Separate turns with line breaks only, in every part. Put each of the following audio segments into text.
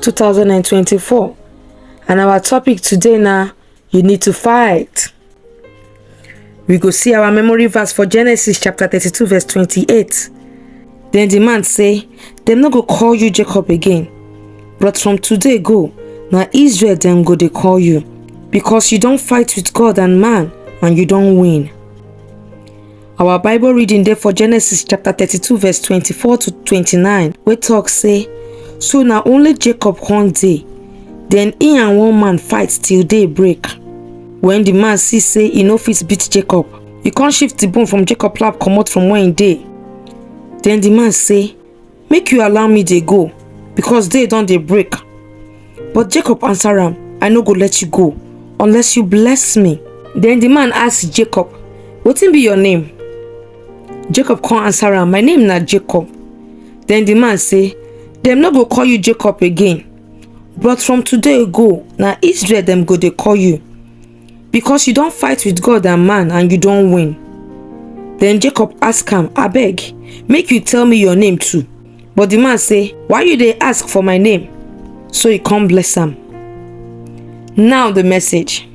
2024 and our topic today na you need to fight. We go see our memory verse for Genesis chapter 32 verse 28. Then the man say, dem no go call you Jacob again, but from today go, na Israel dem go dey call you, because you don fight with God and man and you don win. Our Bible reading dey for Genesis chapter 32 verse 24 to 29 wey talk say, So na only Jacob come dey, then he and one man fight till day break. When the man see say he no fit beat Jacob, he come shift the bone from Jacob lap comot from where he dey. Then the man say, make you allow me dey go because day don dey break but jacob answer am i no go let you go unless you bless me then the man ask jacob wetin be your name jacob come answer am my name na jacob then the man say dem no go call you jacob again but from today go na israel dem go dey call you Because you don fight with God and man and you don win. Then Jacob ask am, Abeg, make you tell me your name too. But the man say, Why you dey ask for my name? So he come bless am. Now the message.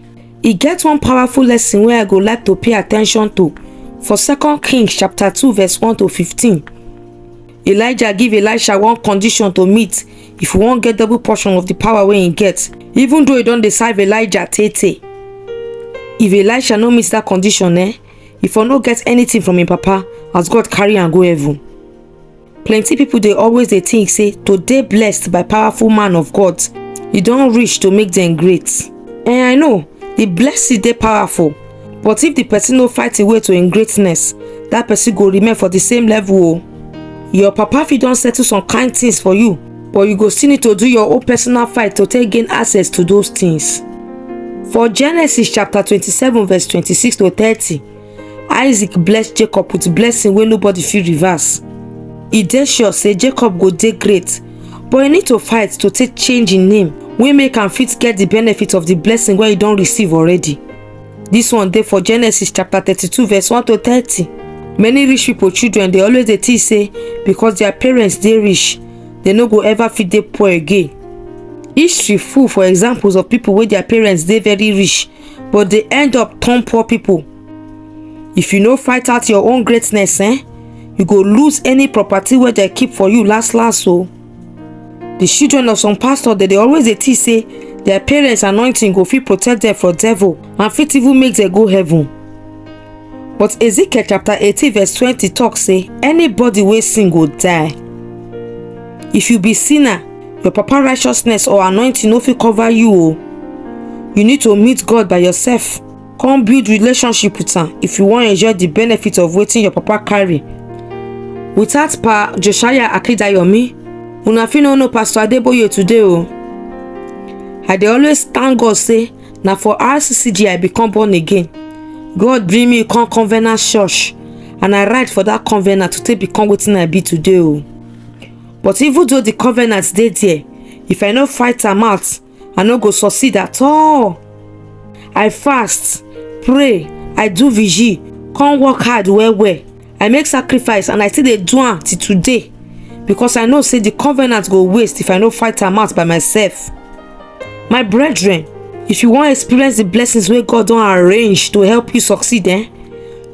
E get one powerful lesson wey I go like to pay attention to for 2 Kings chapter 2 verse 1 to 15. Elijah give Elisha one condition to meet if he wan get double portion of the power wey he get. Even though he don dey serve Elijah tey tey, if Elisha no meet that condition eh, he for no get anything from him papa as God carry am go heaven. Plenty people dey always dey think say to dey blessed by powerful man of God, e don reach to make dem great. Eh I know, the blessing dey powerful but if the person no fight away to im greatness that person go remain for the same level o your papa fit don settle some kind things for you but you go still need to do your own personal fight to take gain access to those things for genesis chapter twenty-seven verse twenty-six to thirty isaac bless jacob with blessing wey nobody fit reverse e dey sure say jacob go dey great but e need to fight to take change im name wey make am fit get the benefit of the blessing wey e don receive already This one dey for Genesis chapter 32 verse 1 to 30. Many rich people children dey always dey think say because their parents dey rich, they no go ever fit dey poor again. History full for examples of people wey their parents dey very rich but dey end up turn poor people. If you no fight out your own greatness, eh, you go lose any property wey dem keep for you last last o. the children of some pastor dem dey always dey think say their parents anointing go fit protect them from devil and fit even make them go heaven but ezekiel chapter eighteen verse twenty talk say anybody wey sin go die if you be sinner your papa righteousness or anointing no fit cover you o you need to meet god by yourself come build relationship with am if you wan enjoy the benefit of wetin your papa carry without pa josiah akindayomi una fit no know pastor adeboye today o i dey always thank god say na for rccg i become born again god bring me come covenant church and i write for that covenant to take become wetin i be today o but even though the covenant dey there if i no fight am out i no go succeed at all i fast pray i do vigil come work hard well well i make sacrifice and i still dey do am till today because i know say the covenant go waste if i no fight am out by myself my brethren if you wan experience the blessings wey god don arrange to help you succeed eh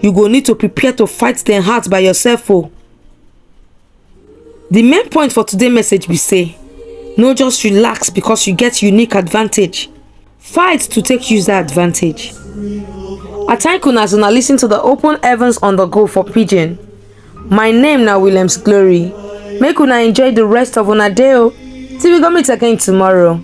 you go need to prepare to fight dem hard by yourself o The main point for today's message be say, no just relax because you get unique advantage. Fight to take use that advantage. I thank una as una listen to the Open Heavens on the Go for Pidgin. My name na Williams Glory. Make una enjoy the rest of una day o. Till we go meet again tomorrow.